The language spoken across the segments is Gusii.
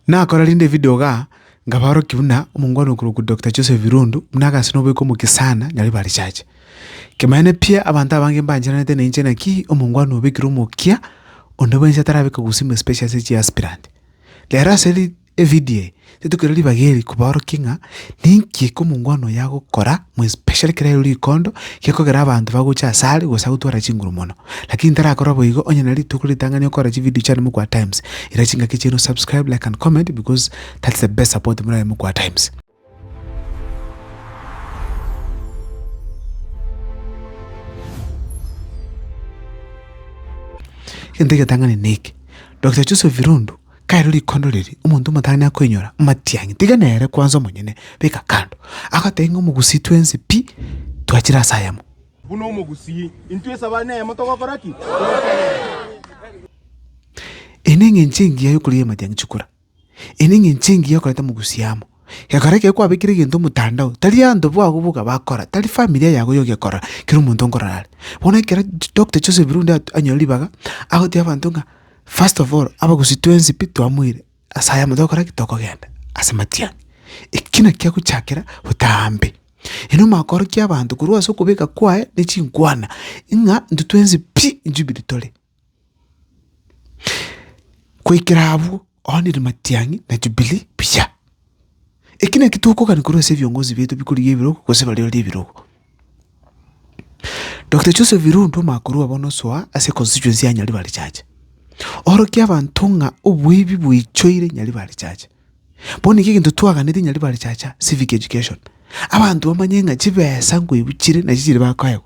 Nakora rende video iga, nkabaorokia buna omongwana okorokwa Doctor Joseph Irundu, buna agase noboika omokia sana nyore ba research. Kemanyeene pi abanto abange mbancheranete nainche naki omongwana obekire omokia onde bwensi atarabeka gusima especially ase chi aspirant. Rero ase ri evideo eye, titokera ribaga eri kobaorokia ng'a ninki eke omongwana oyo agokora mwespecially kera riu rikondo gekogera abanto bagocha ase are gose agotwara chinguru mono. Lakini tarakora boigo onye na rituko ritang'ani okore chividio chiane mokwa times. Ira chingaki chiaino subscribe, like and comment because that's the best support morae mokwa times. Egento egetang'ani neke, Doctor Joseph Irundu Kare rikondo riria omonto omotangi nakoinyora amatiang'i, tiga nere kwansa omonyene, beka kando. Agotebia ng'a omogusii twensi pi twachire ase ayemo. Buna omogusii, intwe esaba neyemo togokora ki? Togotenena. Eye neng'encho engiya yokoria y'amatiang'i chikura. Eye neng'encho engiya okoreta omogusii amo. Gekara ekero kwabekire egento omotandao, tari abanto babo boka bakora, tari familia yago yoka ekora, kera omonto nkorora are. Bono ekero Doctor Joseph Rundi at- anyora ribaga, agotebia abanto ng'a first of all, abagusii twensi pi twamoire, ase ayamo togokora ki? Tokogenda ase matiang'a. Ekio naki kiagochakera botambe. Ere omakorokia abanto korwa ase okobeka kwaye ne chinkwana, ng'a intwe twensi pi inchubirie tore. Goikera abwo oonire matiang'i na Jubilee mbuya. Eki nakio tokogania korwa ase ebiongozi biaito bikorigia ebirogo gose bariorie ebirogo. Doctor Joseph Irundu omoakori obo nosoa ase constituency ya Nyaribarichache, orokia abanto ng'a oboibi boichoire Nyaribarichache. Bono naki egento twaganetie inya riba richacha civic education, abanto bamanye ng'a chibesa nkoigwa chire nachi chiri bakoegwa.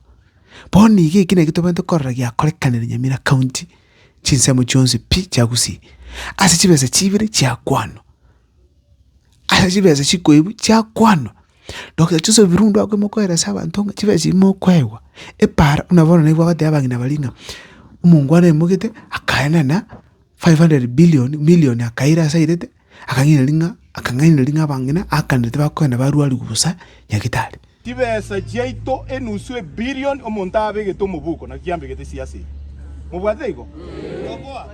Bono iga eki naki tobwenerete korora giakorekanire Nyamira county chinsemo chionsi pi chia Gusii, ase chibesa chibere chia kwanwa, ase chibesa chikoigwa chia kwanwa. Doctor Joseph Birundu akoimokorera ase abanto ng'a chibesa ebi mokoegwa, epara buna bono naibo bagoteba abang'ina baria ng'a omongwana aimogete akaenena. five hundred billion, million akaira ase airete, akang'ainereria ng'a, akang'ainereria ng'a abang'ina aakanire tibakogenda barwarigwa bosa Nyagetari. Chibesa chiaito enusu ebilion omonto aabegete omoboko naki kiambegete chie ase eye. Mobwatete igo?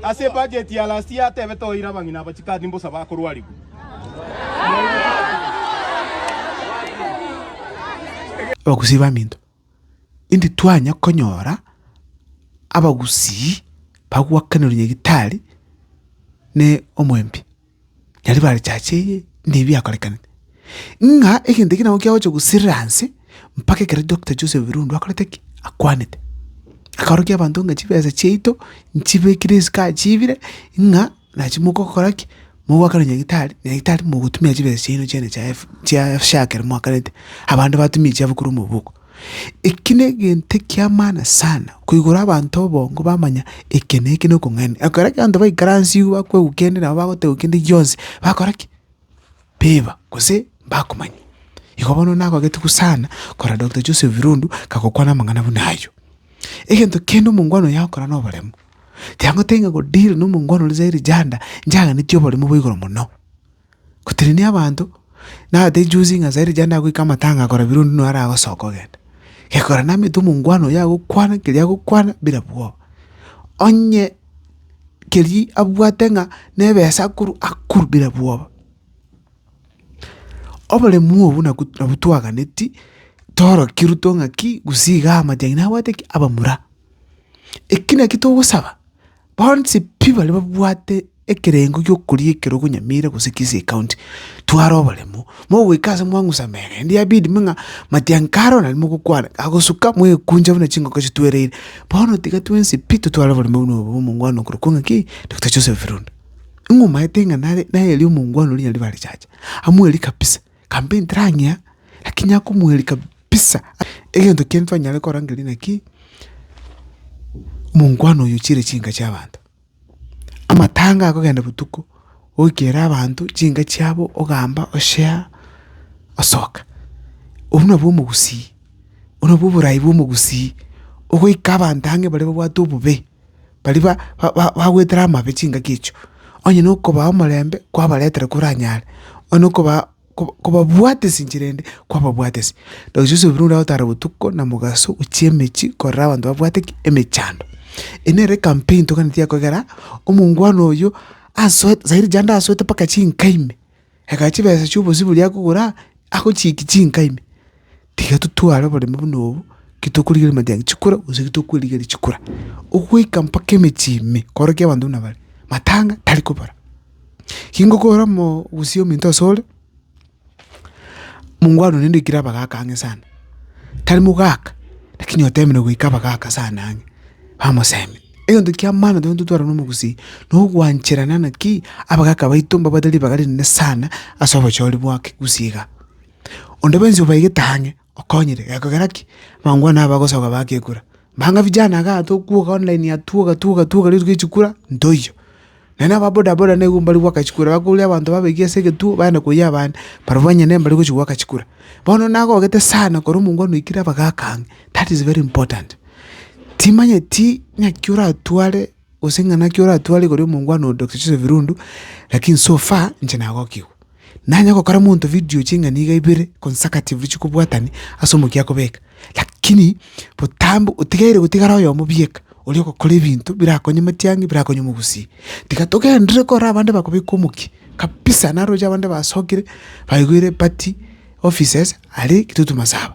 Ase ebudget ya last year atebete oire abang'ina aba chikadi mbosa bakorwarigwa. Abakusi baminto Intitwanya konyora abagusii bagwakanire Nyagetari ne omwembe, nyaria bare chache eye nde biakorekanete. Ng'a egento eke nabo kiagocha gosirira anse mpaka ekero Doctor Joseph Birundu akorete ki? Akwanete. Akaorokia abanto ng'a chibesa chiaito nchibekire isiko achiibire ng'a. Nachi mogokora ki? Mogoakana nyagitari, nyagitari mogotumia chibesa chiaino chiane chia F- chia SHA ekero moakanete, abande batumie echiabo korwa omoboko. Eki negento ekia maana sana, koigora abanto obongo bamanya eke na eke na okong'aini. Ekero ekeanto baikara ansi iga bakwegukia ende nabo bagoteba gose ende gionsi, bakora ki? beba gose mbakomanya. Igo bono nagogete gu sana korora Doctor Joseph Irundu kagokwana amang'ana buna ayio. Egento kende omongwana oyo agokora na oboremu, tiagotebi ng'a go deal na omongwana oria zaidi janda njaganetie oboremu bo igoro mono. Gotenenia abanto, naratebi juzi ng'a zaidi janda agoika amatanga korora Birundu naro aragosoka kogenda. Gekogera namanyete omongwana oyo agokwana keria agokwana bira bwoba. Onye. keria abwate ng'a nebesa akorwa akorwa bire bwoba. Oboremu obwo nabwo nabwo twaganetie torokirwe too ng'aki gusii igaa amache aino nabwate ki abamura. Eki naki togosaba, bonsi pi baria babwate ekerengo giokoria ekero okonyamira gose kisi ekaunti tware oboremo. mogoika ase mwang'usa mene, naende yabidi ime ng'a matianka aro naende mogokwana, agosuka mwekunja buna chingoko chitwereire. Bono tiga twensi pi totware oboremu buna obo bw'omongwana okorokwa ng'a ki? Doctor Joseph Runda. Ing'umaete ng'a nare nayeria omongwana oria nyaribare riacha, amweeri kabisa, campaign terang'ea lakini akomweeri kabisa, egento kende twanyare kora nkeria naki, omongwana oyo ochire chinka chi'abanto. Amatanga akogenda botuko, oikera abanto chinka chiabo ogamba oshare osoka. Obwo nabwo omogusii, obwo nabwo oborai bwa omogusii, ogoika abanto ang'e baria babwate obobe, baria ba- ba- ba- bagwetera amabe chingaki echio, onye nokobaa omorembe kwabaretera koranyare, onye nokobaa. kobabwatesi inchera ende kwababwatesi. Rosia ase oboigo ogotara botuko na mogaso gochia emechie korora abanto babwate ki? Emechando. Eye nere ecampaign toganeti ya kogera omongwana oyio asoe sairi rende asoete mpaka chinka ime, egachia chibesa chia obosibori akogora agochiiki chinka ime. Tiga totware oboremu buna obo, ki tokorigereria amatiangi chikura, gose ki tokwerigereria chikura, ogoika mpaka emechie ime, korokia abanto buna bare, matanga tari kobara. Ki ngokora omoo gose ominto ase ore, mungo aro naende oikire abagaka ang'e sana, tari mogaka, lakini otemire goika abagaka sana ang'e, bamosemi. Egento kia maana tokonyia totware na omogusii, na ogwancherana naki, abagaka baito mbabwate ribaga rinene sana ase obochori bwa kegusii iga. Onde bwensi obaigete ang'e okonyire, gekogera ki? Mambwana aba bagosoka bagekura, banga vijana igaa tokwoka online aa twoka twoka twoka rituko ri chikura ntoiyo. Naende aba bodaboda nigo mbari goaka chikura, bakoria abanto babaigie ase egetuo baende koyia abande, barobwo onye nere mbari gochia goaka chikura. Bono nagogete sana kore omongwana oikire abagaaka ang'e, that is very important. Timanyeti ng'aki oratware. Gose ng'a naki oratware igoro y'omongwana oo Doctor Joseph Irundu, lakini so far inche nagokigwa. Nanye gokora monto video ching'a niga ibere consecutively chikobwatani ase omokia akobeka, lakini botambe otigaire gotigara oyomo bieka oria ogokora ebinto birakonye matiang'i birakonye omogusii. Tiga togenderere korora abande bakobeka omokia kabisa, naroche abande basokire baigoire party offices aria Kitutu Masaba.